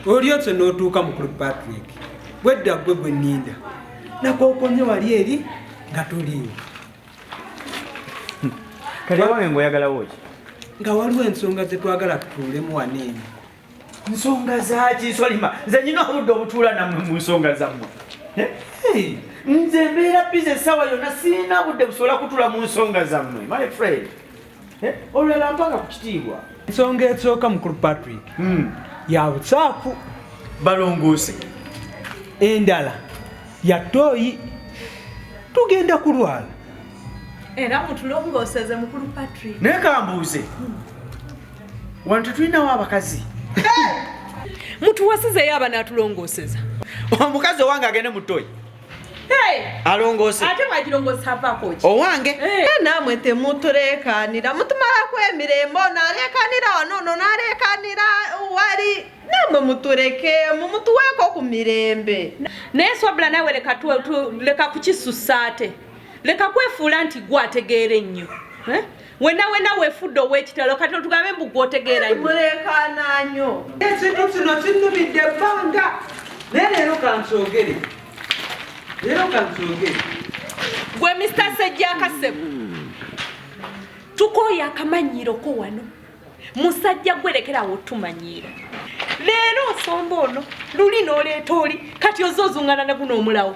olyose n'otuuka mukulu patrick bwedda gwe gwe ninda nakokonye wali eri nga tuliwo kati awange ngaoyagalawo ki nga waliwo ensonga zetwagala tutuulemu waneeno nsonga zaki solima nze nyina obudde obutuula namwe mu nsonga zammwe eh? nze mbeera bize esawa yonna sirina budde busobola kutula mu nsonga zammwe my friend Eh, olulala mpaka ku kitiibwa ensonga esooka mukulu patrick hmm. ya busaafu balongoose endala ya tooyi tugenda kulwala era mutulongooseze mukulu patrick naye kambuuze hmm. wano tetulinawo abakazi mutuwasizeyo abana atulongooseza omukazi owange agende mu tooyi alongoose ate mwagirongoosa avako ki owange eh. namwe temutuleekaanira mutumalako emirembe ono aleekaanira wano ono naleekaanira wali namwe mutulekeemu mutuweeko ku mirembe naye swabula nawe leka kukisusa ate leka kwefuula nti gwe ategeera ennyo eh? wena wena wefudde owekitalo kati otugambe mbu gwotegeera mulekaana nyo ekintu kino kinumidde ebbanga naye leero kankyogere leero kankyogere gwe mista sejjakasebo tukooya akamanyiiro ko wano musajja gwerekerawo tumanyiira leero osomba ono luli noleeta oli kati oza ozungana ne guno omulawo